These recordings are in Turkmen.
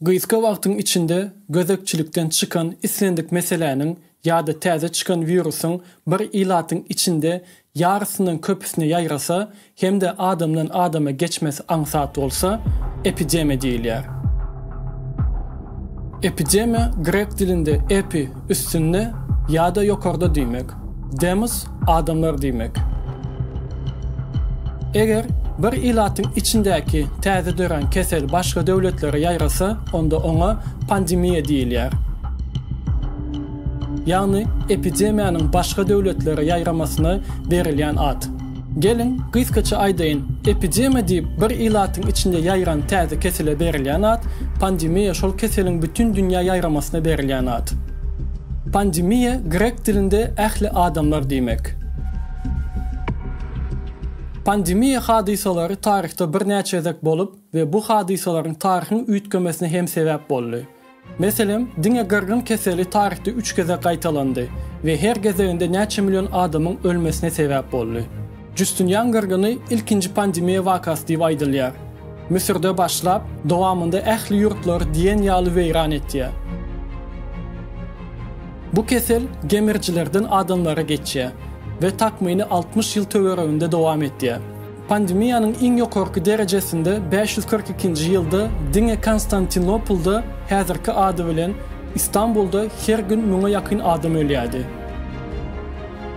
Gysga wagtyň içinde gözegçilikden çykan islendik meseläniň ýa-da täze çykan wirusyň bir ilatyň içinde ýarysyndan köpüsine ýaýrasa hem-de adamdan adama geçmesi aňsat bolsa, epidemiýa diýilýär. Epidemiýa grek dilinde epi, üstünde ýa-da ýokarda diýmek, demos, Adamlar diýmek. Eger bir ilatyň içindäki täze dörän kesel başga döwletlere ýaýrasa, onda oňa pandemiýa diýilýär. Ýagny epidemiýanyň başga döwletlere ýaýramasyna berilýän at. Geliň, gysgaça aýdaýyn, epidemiýa diýip bir ilatyň içinde ýaýran täze kesele berilýän at, pandemiýa şol keseliň bütin dünýä ýaýramasyna berilýän at. Pandemiýa grek dilinde ähli adamlar diýmek. Pandemiýa hadysalary taryhda birnäçe gezek bolup we bu hadysalaryň taryhyň üýtgemesine hem sebäp boldy. Meselem, diňe gyrgyn keseli taryhda üç gezek gaýtalandy we her gezeginde näçe million adamyň ölmesine sebäp boldy. Justinian gyrgyny ilkinji pandemiýa wakasy diýip aýdylýar. Müsürde başlap, dowamynda ähli ýurtlary diýen ýaly weýran etýär. Bu kesel gemirijilerden adamlara geçýär we takmyny altmyş ýyl töwereginde dowam etýär. Pandemiýanyň iň ýokarky derejesinde bäş ýüz kyrk ikinji ýylda diňe Konstantinopolda, häzirki ady bilen, Istanbulda her gün müňe ýakyn adam ölýärdi.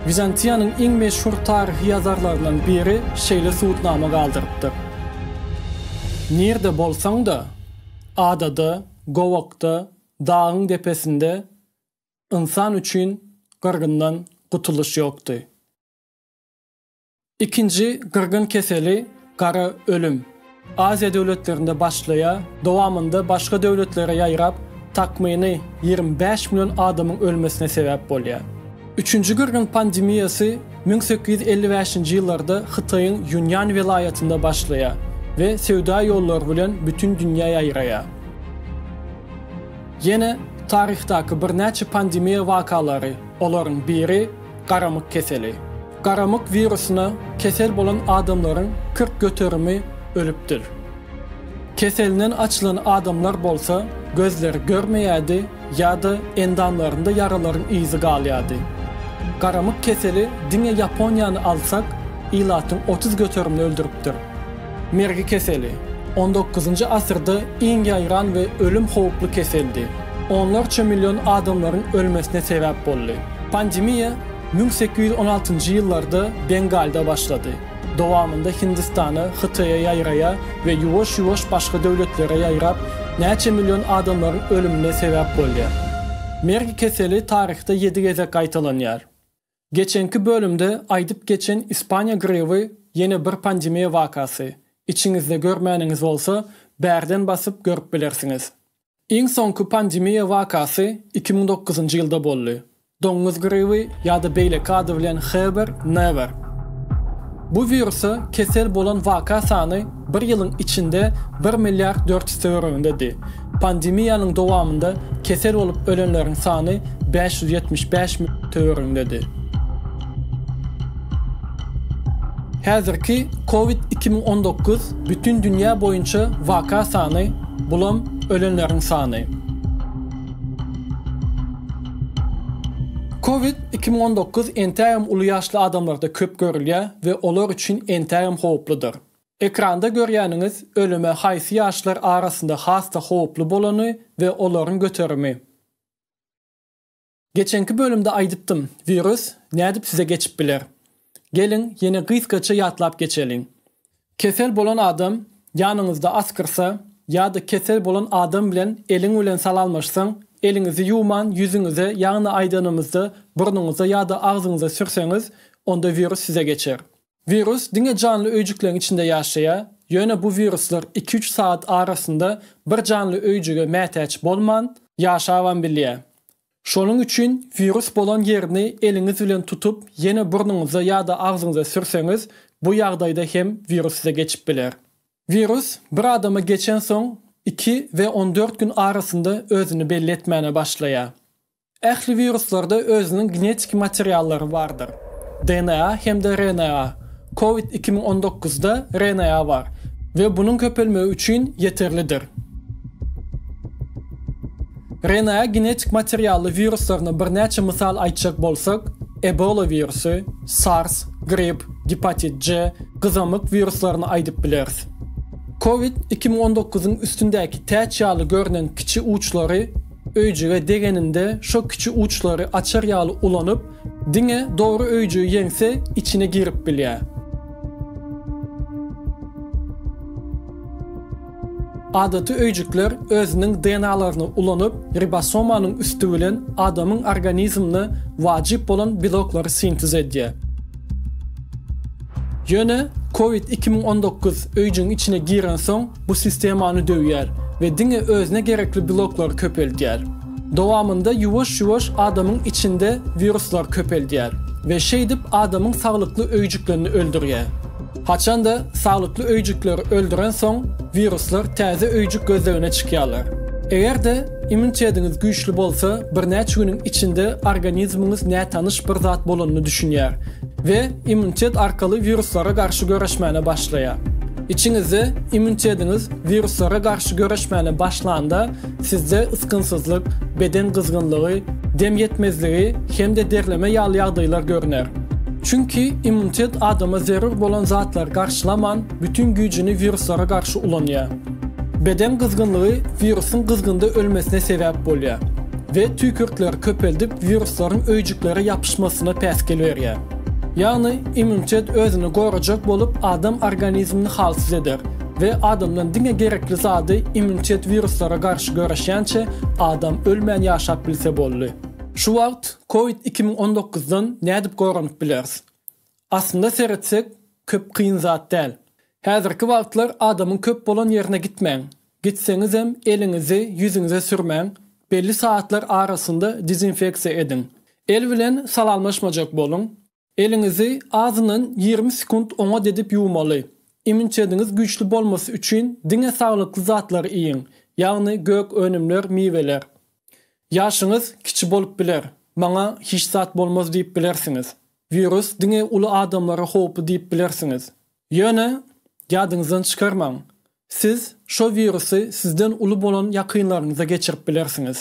Wizantiýanyň iň meşhur taryhy ýazarlaryndan biri şeýle subutnama galdyrypdyr, Nirde bolsaň-da, adada, gowakda, dagyň depesinde ynsan üçin gyrgyndan gutulyş ýokdy. Ikinji gyrgyn keseli, gara ölüm, Aziýa döwletlerinde başlaýar, dowamynda başga döwletlere ýaýrap, takmyny ýigrimi bäş million adamyň ölmesine sebäp bolýar. Üçünji gyrgyn pandemiýasy müň sekiz ýüz elli bäşinji ýyllarda Hytaýyň Ýunýan welaýatynda başlaýar we söwda ýollary bilen bütin dünýä ýaýraýar. Ýene taryhdaky birnäçe pandemiýa wakalary, olaryň biri, Garamyk keseli. Garamyk wirusyna kesel bolan adamlaryň kyrk göterimi ölüpdir. Keselinden açylan adamlar bolsa gözleri görmeýärdi ýa-da endamlarynda ýaralaryň yzy galýardy. Garamyk keseli diňe Ýaponiýany alsak, ilatyň otuz göterimini öldüripdir. Mergi keseli, on dokuzynjy asyrda iň ýaýran we ölüm howply keseldi. Onlarça million adamlaryň ölmesine sebäp boldy. Pandemiýa müň sekiz ýüz on altynjy ýyllarda Bengalda başlady. Dowamynda Hindistana, Hytaýa ýaýraýa we ýuwaş-ýuwaş başga döwletlere ýaýrap, näçe million adamlaryň ölümine sebäp bolýar. Mergi keseli taryhda ýedi gezek gaýtalanýar. Geçenki bölümde aýdyp geçen Ispaniýa griby ýene bir pandemiýa wakasy, içiňizde görmäniňiz bolsa bärden basyp görüp bilersiňiz. Iň soňky pandemiýa wakasy iki müň dokuzynjy ýylda boldy, doňuz griby ýa-da beýleki ady bilen Heber, Never. Bu wirusa kesel bolan waka sany Bir ýylyň içinde bir milliard dört ýüz töweregindedi. Pandemiýanyň dowamynda kesel bolup ölenleriň sany bäş ýüz ýetmiş bäş müň töweregindedi. Häzirki Covid iki müň on dokuz bütin dünýä boýunça waka sany, bulam ölenleriň sany. Covid iki müň on dokuz entägem uly ýaşly adamlarda köp görülýär we olar üçin entägem howuplydyr. Ekranda görýäniňiz ölüme haýsy ýaşlar arasynda has-da howply bolany we olaryň göterimi. Geçenki bölümde aýdypdym, wirus nädip size geçip biler? Geliň, ýene gysgaça ýatlap geçeliň. Kesel bolan adam ýanyňyzda asgyrsa ýa-da kesel bolan adam bilen eliň bilen salamlaşsaň, eliňizi ýuwman ýüzüňize ýagny aýdanymyzda burnuňyza ýa-da agzyňyza sürseňiz, onda wirus size geçer. Wirus diňe janly öýjükleriň içinde ýaşaýar, ýöne bu wiruslar iki-üç sagat arasynda bir janly öýjüge mätäç bolman, ýaşabam bilýär. Şonuň üçin wirus bolan ýerini eliňiz bilen tutup, ýene burnuňyza ýa-da agzyňyza sürseňiz, bu ýagdaýda hem wirus size geçip biler. Wirus bir adama geçensoň, iki we on dört gün arasynda özüni belli etmäne başlaýar. Ähli wiruslarda özüniň genetiki materiallary bardyr. DNA hem-de RNA. Covid iki müň on dokuzda RNA bar we bunuň köpelmegi üçin ýeterlidir. RNA genetik materially wiruslaryna birnäçe mysal aýtjak bolsak, Ebola wirusy, SARS, grip, gepatit C, gyzamyk wiruslaryny aýdyp bileris. Covid iki müň on dokuzyň üstündäki täç ýaly görnen kiçi uçlary Öýjüge degeninde şo kiçi uçlary açar ýaly ulanyp, diňe dogry öýjügi ýeňse içine girip bilýär. Adaty öýjükler özüniň DNA-laryny ulanyp, ribosomanyň üsti bilen adamyň organizmine wajyp bolan beloklary sintez edýär. Ýöne Covid iki müň on dokuz öýjügiň içine girensoň, Bu sistema ony döwýär we diňe özüne gerekli beloklary köpeldýär. Dowamynda ýuwaş-ýuwaş adamyň içinde wiruslar köpeldýär we şeýdip adamyň saglykly öýjüklerini öldürýär. Haçanda saglykly öýjükleri öldürensoň, wiruslar täze öýjük gözlegine çykýarlar. Eger-de Immunitediňiz güýçli bolsa, birnäçe günüň içinde organizmiňiz nätanyş bir zat bolanyny düşünýär we immunitet arkaly wiruslara garşy göreşmäne başlaýar. Içiňizde immunitediňiz wiruslara garşy göreşmäne başlanda, sizde ysgynsyzlyk, beden gyzgynlygy, dem ýetmezligi hem-de derleme ýaly ýagdaýlar görner. Çünki immunitet adama zerur bolan zatlary garşylaman, bütin güýjüni wiruslara garşy ulanýar. Beden gyzgynlygy wirusyň gyzgynda ölmesine sebäp bolýar we tüýkürtleri köpeldip wiruslaryň öýjüklere ýapyşmasyna päsgel berýär. Ýagny immunitet özüni gorajak bolup adam organizmini halsyz eder we adamdan diňe gerekli zady immunitet wiruslara garşy göreşýänçe adam ölmän ýaşap bilse boldy. Şu wagt covid iki müň on dokuzdan nädip goranyp bileris? Aslynda seretsek, köp kyn zat däl. Häzirki wagtlar adamyň köp bolan ýerine gitmäň. Gitseňizem, eliňizi ýüzüňize sürmäň, belli sagatlar arasynda dezinfeksiýa ediň. El bilen salamlaşmajak boluň. Eliňizi azyndan ýigrimi sekunt oňat edip ýuwmaly. Imunitetiňiz güýçli bolmasy üçin diňe saglykly zatlary iýiň, ýagny gök önümler, miweler. Ýaşyňyz kiçi bolup biler, maňa hiç zat bolmaz diýip bilersiňiz. Wirus diňe uly adamlara howply diýip bilersiňiz. Ýöne, ýadyňyzdan çykarmaň, siz şo wirusy sizden uly bolan ýakynlaryňyza geçirip bilersiňiz.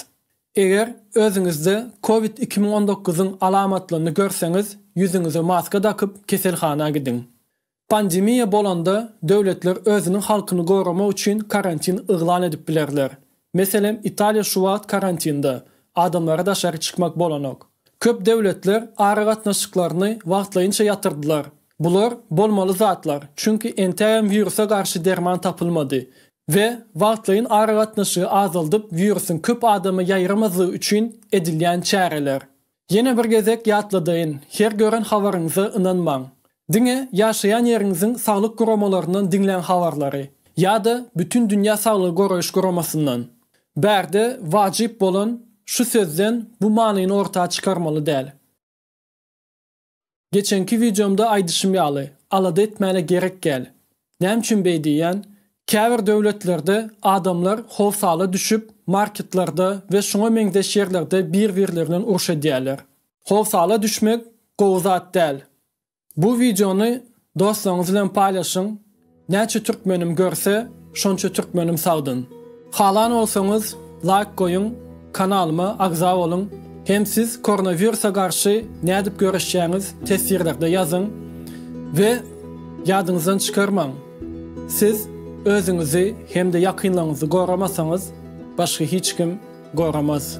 Eger özüňizde covid iki müň on dokuz yň alamatlaryny görseňiz, ýüzüňize maska dakyp, keselhana gidiň. Pandemiýa bolanda, döwletler özüniň halkyny goramak üçin karantin yglan edip bilerler. Meselem, Italiýa şu wagt karantinde, adamlara daşary çykmak bolanok. Köp döwletler aragatnaşyklaryny wagtlaýynça ýatyrdylar. Bular bolmaly zatlar, çünki entägem wirusa garşy derman tapylmady we wagtlaýyn aragatnaşygy azaldyp, wirusyň köp adama ýaýramazlygy üçin edilýän çäreler. Ýene bir gezek ýatladaýyn, her gören habaryňyza ynanmaň. Diňe ýaşaýan ýeriňiziň saglyk guramalaryndan diňläň habarlary, ýa-da Bütindünýä saglygy goraýyş guramasyndan. Bärde wajyp bolan şu sözden bu manyny orta çykarmaly däl. Geçenki wideomda aýdyşym ýaly, alada etmäne gerek gel. Näme üçin beý diýýän? Käbir döwletlerde adamlar howsala düşüp marketlerde we şuňa meňzeş ýerlerde bir-birlerinden uruş edýärler. Howsala düşmek gowy zat däl. Bu wideony Dostlaryňyz bilen paýlaşyň! Näçe türkmenim görse, şonça türkmenim sagdyn! Halan bolsaňyz, laýk goýuň, kanalyma agza boluň hem siz koronawirusa garşy nädip göreşýäňiz teswirlerde ýazyň we ýadyňyzdan çykarmaň, siz özüňizi hem-de ýakynlaryňyzy goramasaňyz, başga hiç kim goramaz.